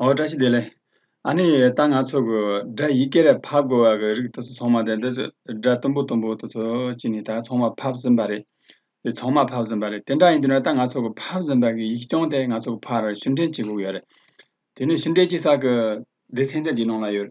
ཨོ་བཀྲ་ཤིས་བདེ་ལེགས། ཨ་ནི་ད་ང་ཚོ་གི་སྒྲ་ཡིག་སྐད་རེད་ཕབ་དགོས་བ་གི་རིགས་དེ་ཚོ་ཚང་མ་དེ་འདི་སྒྲ་གཏུམ་པོ་གཏུམ་པོ་དེ་ཚོ་ཅི་ནས་ད་ཚང་མ་ཕབ་ཟིན་པ་རེད། དེ་ཚང་མ་ཕབ་ཟིན་པ་རེད་དེ་འདྲ་ཡིན་དུས་ན་ད་ང་ཚོ་གི་ཕབ་ཟིན་པ་གི་ཡིག་རྐྱང་དེ་ང་ཚོ་གི་ཕར་ཕྱིར་འདྲེན་བྱེད་དགོས་ཡོད་རེད། དེ་ནི་ཕྱིར་འདྲེན་བྱེད་ས་གི་སྡེ་ཚན་དེ་འདི་ནང་ལ་ཡོད།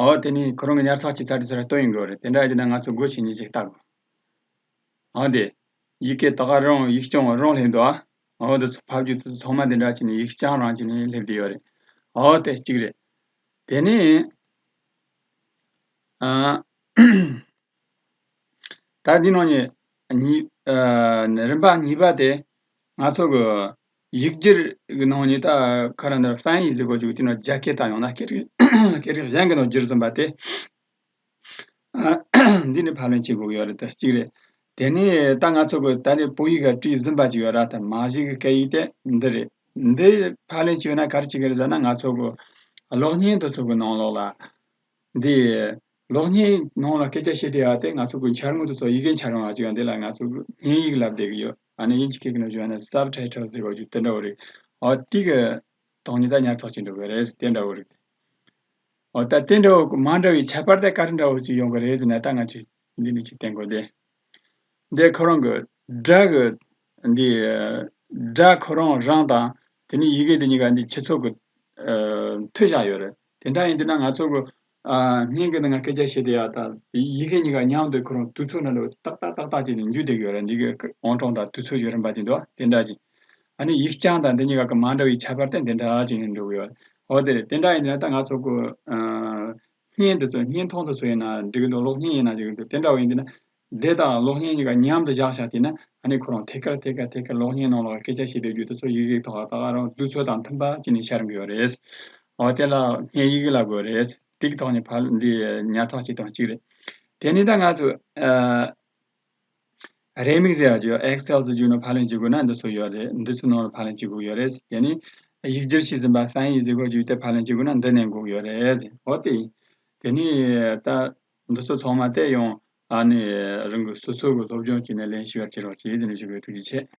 འོ་དེ་ནི་ཁོ་རང་གི་ཉར་ཚགས་བྱས་ཚར་དུས་ཚོད་ལ་ལྟོས་ཡིན་དགོས་རེད་དེ་འདྲ་ཡོད་ན་ང་ཚོ་དགོད་བྱེད་གཉིས་ཅིག་བལྟ་དགོས། འོ་དེ། ཡི་གེ་དག་ག་རང་ཡིག་རྐྱང་བ་རང་སླེབས་འདུག་ཨ། འོ་དེ་ཚོ་ཕབ་རྒྱུ་དེ་ཚོ་ཚང་མ་དེ་འདྲ་གྱི་ནི་ཡིག་རྐྱང་རང་གྱི་ནི་སླེབས་བསྡད་ཡོད་རེད། འོ་དེ་གཅིག་རེད། དེ་ནི། ཨ། ད་འདི་ནང་ནས། ཉིས། རིམ་པ་གཉིས་པ་དེ། ང་ཚོ་གི། ཡིག་སྒྱུར་གྱི་ནང་ཉི་ད་ཁ་ར་འདར་ཧྥན་ཡིག་གཟུགས་པོ་བཅུག་དེ་ནང་རྒྱ་སྐད་དང་ཡང་ན་སྐད་རིགས་གཞན་གྱི་ནང་བསྒྱུར་ཟིན་པ་སྟེ། འདི་ནི་ཕབ་ལེན་བྱེད་དགོས་ཀྱི་ཡོད་རེད་དེ་གཅིག་རེད། དེ་ནས་ད་ང་ཚོ་གིས་ད་ནི་བོད་ཡིག་ག་བྲིས་ཟིན་པ་ཅིག་ཡོད་ར་དང་མ་གཞི་གི་སྐད་ཡིག་དེ་འདི་རེད། འདི་ཕབ་ལེན་བྱེད་ན་ག་རེ་བྱེད་ཀྱི་རེད་ཟེར་ན་ང་ཚོ་གི་གློག་བརྙན་དེ་ཚོ་གི་ནང་ལོགས་ལ། འདི། ལོག་གཉིས་ནང་ལ་སྐད་ཆ་བཤད་དུས་ཨ་སྟེ་ང་ཚོ་གུས་འཆར་ངོ་ཏུ་སོགས་ཡི་གེ་འཆར་ཡོང་བ་ཅིག་ཡང་འདི་ལ་ང་ཚོ་དབྱིན་ཡིག་ལབ་བསྡད་ཀྱི་ཡོད་ཨ་ནི་དབྱིན་ཇི་སྐད་ཀྱི་ནང་བྱོན་ན Subtitle ཟེར་བ་ཅིག་དེ་འདྲ་བོ་རིགས་ཨོ་ཏི་ཀ་དང་ཉི་ཟླ་ཉར་ཚགས་བྱེད་འདོད་པའི་རེད་དེ་འདྲ་བོ་རིགས་ཨོ་ད་དེ་འདྲ་བོ་མ་འདྲ་བའི་ཁྱད་པར་དེ་ཀ་རི་འདྲ་བོ་ཅིག་ཡོང་གི་རེད་ཟེར་ན་ད་ང་ཚོས་འདི་ནས་ཅིག་བསྟན་དགོས་ཏེ། འདི་ཁོ་རང་གི་སྒྲ་གི་འདི་སྒྲ་ཁོ་རང་རང་དང་དེ་ནས་ཡི་གེ་འདི་གཉིས་ཀ་འདི་ཁྱི་ཚོགས་ཀྱི་མཐུད་བཞག་ཡོད་རེད། དེ་འདྲ་ཡིན་དུས་ན་ང་ཚོ་གོ། སྙིང་གི་ནང་ན་སྐད་ཆ་བཤད་དེ་ཡག་ད། ཡི་གེ་གཉིས་ཀ་མཉམ་དུ་ཁུར་རུང་དུས་ཚོད་ནང་དུ་ཏག་ཏག་ཏག་ཏག་བྱས་ནས་འཇུས་འདེགས་ཡོད་རེད་འདི་གའི་ཨོང་གྲོང་དང་དུས་ཚོད་ཀྱི་རིམ་པ་ཅིག་འདུག་དེ་འདྲ་ཅིག། ཨ་ནི་ཡིག་རྐྱང་དང་འདི་གཉིས་ཀ་གི་མ་འདྲ་བའི་ཁྱད་པར་ཏེ་འདི་འདྲ་ཅིག་ནི་འདུག་གི་ཡོད། འོ་དེ་རེད་དེ་འདྲ་ཡིན་དུས་ན་ད་ང་ཚོ་གོ། བརྙན་འདི་ཚོ་བརྙན་ཐུང་དུ་སུ་ཡིན་ན་འགྲིག་གི་འདུག་གློག་བརྙན་ཡིན་ན་འགྲིག་གི་འདུག་དེ་འདྲ་བ་ཡིན་དུས་ན། བདེ་དང་གློག་བརྙན་གཉིས་ཀ་མཉམ་དུ་བཞག་བཞག་བལྟས་ན་ཨ་ནི་ཁོ་རང་ཐད་ཀར་ཐད་ཀར་ཐད་ཀར་གློག་བརྙན་ནང་ལ་སྐད་ཆ་བཤད་པའི་རྒྱུད་དུ་ཚོར་ཡིག་རིགས་ཐོག་ད་ག་རང་དུས་ཚོད་དང་མཐུན་པ་ཅི་ནས་ཤར་འགོས་པ་རེད། འོ་དེ་ལ་བརྙན་ཡིག་གི་ལ་དགོས་རེད། ཏིག་ཐོག་ནས་ཕར་འདི་ཉར་ཐག་བྱས་དོན་གཅིག་རེད། དེ་ནས་ད་ང་ཚོས་རེ་མིག་ཟེར་བ་བརྗོད Excel དུ་བསྒྱུར་ནས་ཕར་ལེན་བྱེད་དགོས་ན་འདི་ཚོ་ཡོད་རེད་འདི་ཚོའི་ནང་ལ་ཕར་ལེན་བྱེད་དགོས་ཡོད་རེད། དེ་ནས་ཡིག་སྒྱུར་བྱས་ཟིན་པ་ཧྥན་ཡིག་ཟེར་གོ་བརྒྱུད་དེ་ཕར་ལེན་བྱེད་དགོས་ན་འདི་ནས་འགོག་ཡོད་རེད། འོ་དེ་ཡིན། དེ་ནས་ད། འདི་ཚོ་ཚང་མ་བལྟས་ཡོང། ད་ནི་རང་གི་སོ་སོ་གི་སློབ་སྦྱོང་བྱས་ནས་ལན་ཞུ་བར་བྱེད་རོགས་ཀྱིས་ཟེར་ནས་ཞུ་བའི་ཐུགས་རྗེ་ཆེ།